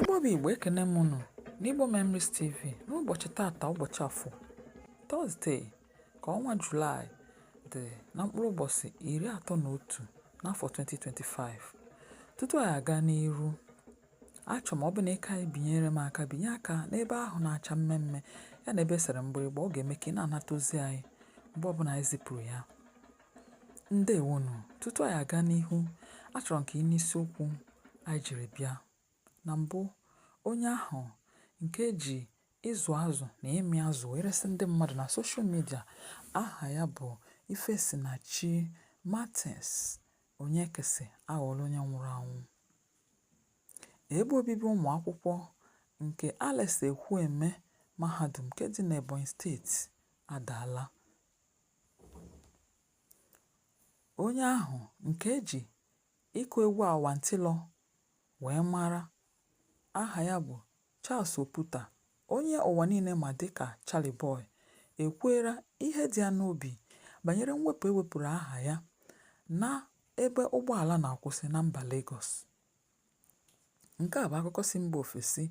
Igbo bụ Igbo ekene m unu n'Igbo Memories TV n'ụbọchị taata ụbọchị afọ Tọzdee ka ọnwa Julaị dị na mkpụrụ ụbọchị iri atọ na otu n'afọ 2025 tutu anyị aga n'iru achọ m ọ bụ na ịka anyị binyere m aka binye aka n'ebe ahụ na-acha mmee mmee ya na ebe e sere mgbịrịgba ọ ga-eme ka ị na-anata ozi anyị mgbe ọbụla anyị zipụrụ ya Ndewonụ. Tutu anyị aga n'ihu, achọrọ m ka ị nụ isiokwu anyị jiri bịa. Na mbụ, onye ahụ nke ji ịzụ azụ na ịmị azụ wee resị ndị mmadụ na soshal midia aha ya bụ Ifesinachi Martins Onyekesi aghọọla onye nwụrụ anwụ. Ebe obibi ụmụ akwụkwọ nke Alex Ekwueme Mahadum nke dị n'Ebonyi steeti adaala Onye ahụ nke e ji ịkụ egwu awantịlọ wee mara aha ya bụ Charles Oputa, onye ụwa niile ma dịka Charlie Boy, ekwuela ihe dị ya n'obi banyere mwepụ e wepụrụ aha ya n'ebe ụgbọala na-akwụsị na mba Legọs. Nke a bụ akụkọ si mba ofesi.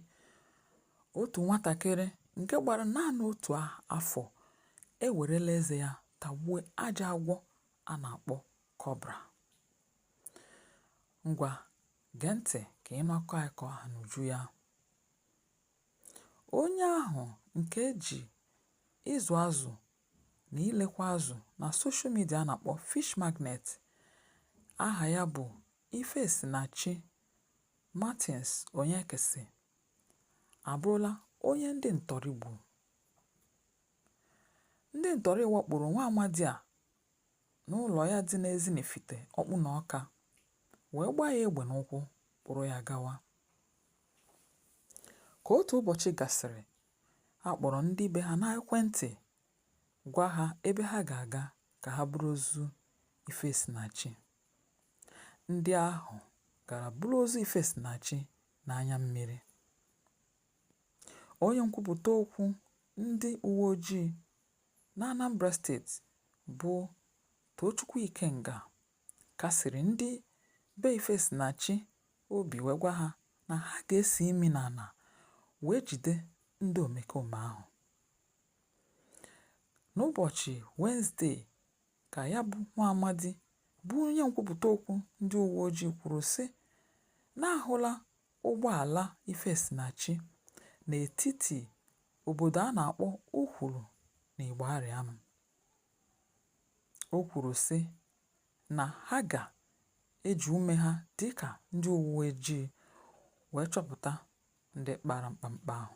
Otu nwatakịrị nke gbara naanị otu afọ ewerela eze ya tagbuo ajọ agwọ a na-akpọ kọbra. Ngwa gee ntị ka ị nụ akụkọ anyị ka ọ ha n'uju ya. Onye ahụ nke e ji ịzụ azụ na ilekwa azụ na soshal midia a na-akpọ Fish Magnet aha ya bụ Ifesinachi Martins Onyekesi abụrụla onye ndị ntọrị gburu. Ndị ntọrị wakporo nwa amadi a n'ụlọ ya dị n'Ezinifite, Ọkpụnọ Ọka, wee gbaa ya egbe n'ụkwụ kpụrụ ya gawa. Ka otu ụbọchị gasịrị, a kpọrọ ndị be ha n'ekwentị gwa ha ebe ha ga-aga ka ha buru ozu Ifesinachi. ndị ahụ gara buru ozu Ifesinachi n'anya mmiri. Onye nkwupụta okwu ndị uwe ojii n'Anambra steeti bụ Tochukwu Ikenga kasiri ndị be Ifesinachi obi wee gwa ha na ha ga-esi imi n'ala wee jide ndị omekome ahụ. N'ụbọchị Wenezdee, Ka ya bụ nwaamadi bụ onye nkwupụta okwu ndị uweojii kwuru sị na a hụla ụgbọala Ifesinachi n'etiti obodo a na-akpọ Ukwulu na Igbarịam. O kwuru sị na ha ga-eji ume ha dịka ndị uweojii wee chọpụta ndị kpara mkpamkpa ahụ.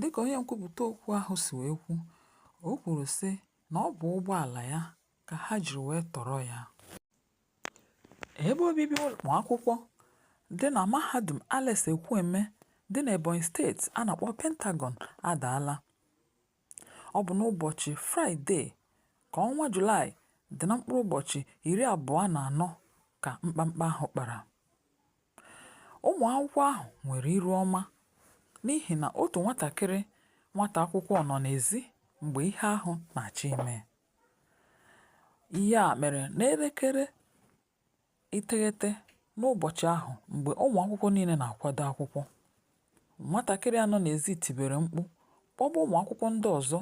Dịka onye nkwupụta okwu ahụ si wee kwu, o kwuru sị na ọ bụ ụgbọala ya ka ha jiri wee tọrọ ya. Ebe obibi ụmụakwụkwọ dị na mahadum Alex Ekwueme dị n'Ebonyi steeti a na-akpọ Pentagon adaala. Ọ bụ n'ụbọchị Fraịde ka ọnwa Julaị dị na mkpụrụ ụbọchị iri abụọ na anọ ka mkpamkpa ahụ kpara. Ụmụ akwụkwọ ahụ nwere iru ọma n'ihi na otu nwatakịrị nwata akwụkwọ nọ n'ezi mgbe ihe ahụ na-achọ ime. Ihe a mere n'elekere iteghete n'ụbọchị ahụ mgbe ụmụ akwụkwọ niile na-akwado akwụkwọ. Nwatakịrị a nọ n'ezi tibere mkpu kpọba ụmụ akwụkwọ ndị ọzọ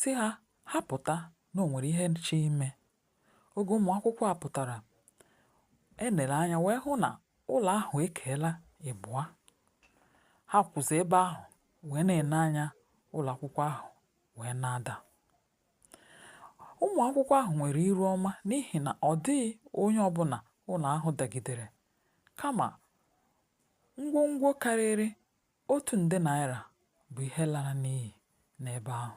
sị ha ha pụta na o nwere ihe na-achọ ime. Oge ụmụ akwụkwọ a pụtara, e nere anya wee hụ na ụlọ ahụ ekeela ịbụa. Ha kwụzi ebe ahụ wee na-ene anya ụlọ akwụkwọ ahụ wee na-ada. Ụmụ akwụkwọ ahụ nwere iru ọma n'ihi na ọ dịghị onye ọbụla ụlọ ahụ dagidere, kama ngwongwo karịrị otu nde naira bụ ihe lara n'iyi n'ebe ahụ.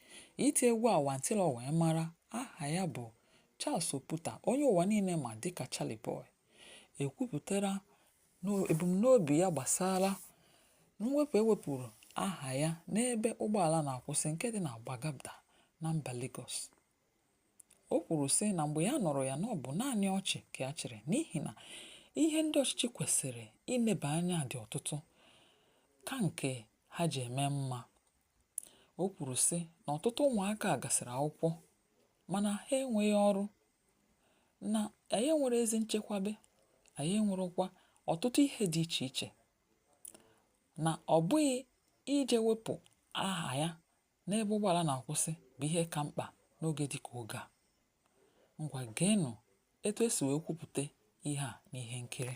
Iti egwu awantilọ wee mara aha ya bụ Charles Oputa onye ụwa niile ma dịka Charlie Boy ekwupụtara ebumnobi ya gbasara mwepụ e wepụrụ aha ya n'ebe ụgbọala na-akwụsị nke dị na Gbagada na mba Lagos. O kwuru sị na mgbe ya nụrụ ya na ọ bụ naanị ọchị ka ya chịrị n'ihi na ihe ndị ọchịchị kwesịrị ineba anya dị ọtụtụ ka nke ha ji eme mma. O kwuru sị na ọtụtụ ụmụaka gasịrị akwụkwọ mana ha enweghị ọrụ, na anyị enwere ezi nchekwabe, anyị enwerekwa ọtụtụ ihe dị iche iche na ọ bụghị ije wepụ aha ya n'ebe ụgbọala na-akwụsị bụ ihe ka mkpa n'oge dị ka oge a. Ngwa geenụ etu e si wee kwupụta ihe a n'ihe nkiri.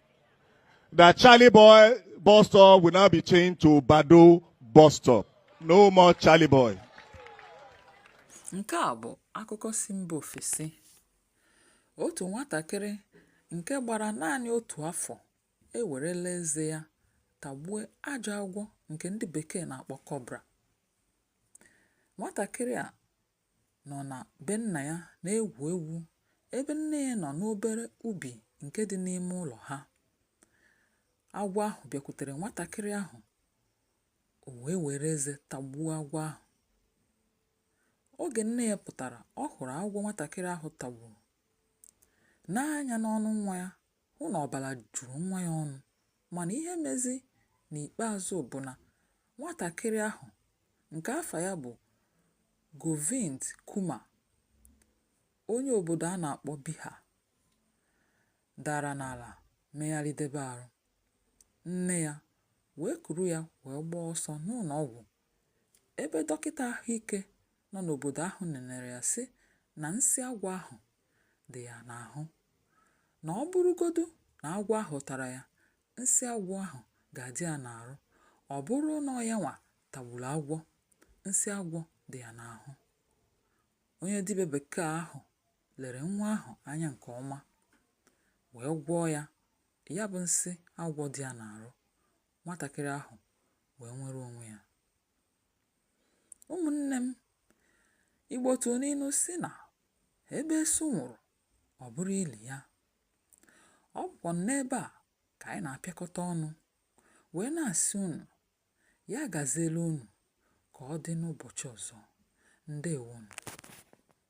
that Charlie Boy bus stop will now be changed to Baddo bus stop. No more Charlie Boy. Nke a bụ akụkọ si mba ofesi. Otu nwatakịrị nke gbara naanị otu afọ ewerela eze ya tagbue ajọ agwọ nke ndị bekee na-akpọ cobra. Nwatakịrị a nọ na be nna ya na-egwu egwu ebe nne ya nọ n'obere ubi nke dị n'ime ụlọ ha. Agwọ ahụ bịakwutere nwatakịrị ahụ, o wee were eze tagbuo agwọ ahụ. Oge nne ya pụtara, ọ hụrụ agwọ nwatakịrị ahụ tagburu, nee anya n'ọnụ nwa ya, hụ na ọbala juru nwa ya ọnụ mana ihe mezi n'ikpeazụ bụ na nwatakịrị ahụ nke afa ya bụ Govind Kumar onye obodo a na-akpọ Bihar dara n'ala megharịdebe arụ, nne ya wee kuru ya wee gbaa ọsọ n'ụnọ ọgwụ ebe dọkịta ahụike nọ n'obodo ahụ nenere ya sị na nsị agwọ ahụ dị ya n'ahụ na ọ bụrụgodu na agwọ ahụ tara ya nsị agwọ ahụ ga-adị ya n'arụ ọ bụrụ na ọ yanwa tagburu agwọ nsị agwọ dị ya n'ahụ onye dibịa bekee ahụ lere nwa ahụ anya nke ọma wee gwọọ ya ya bụ nsị agwọ dị ya n'arụ nwatakịrị ahụ wee nwere onwe ya ụmụnne m igbo tụrụ n'inu sị na ebe esu nwụrụ ọ bụrụ ili ya ọ bụkwa n'ebe a ka anyị na-apịakọta ọnụ wee na-asị unu ya gaziela unu ka ọ dị n'ụbọchị ọzọ ndewonụ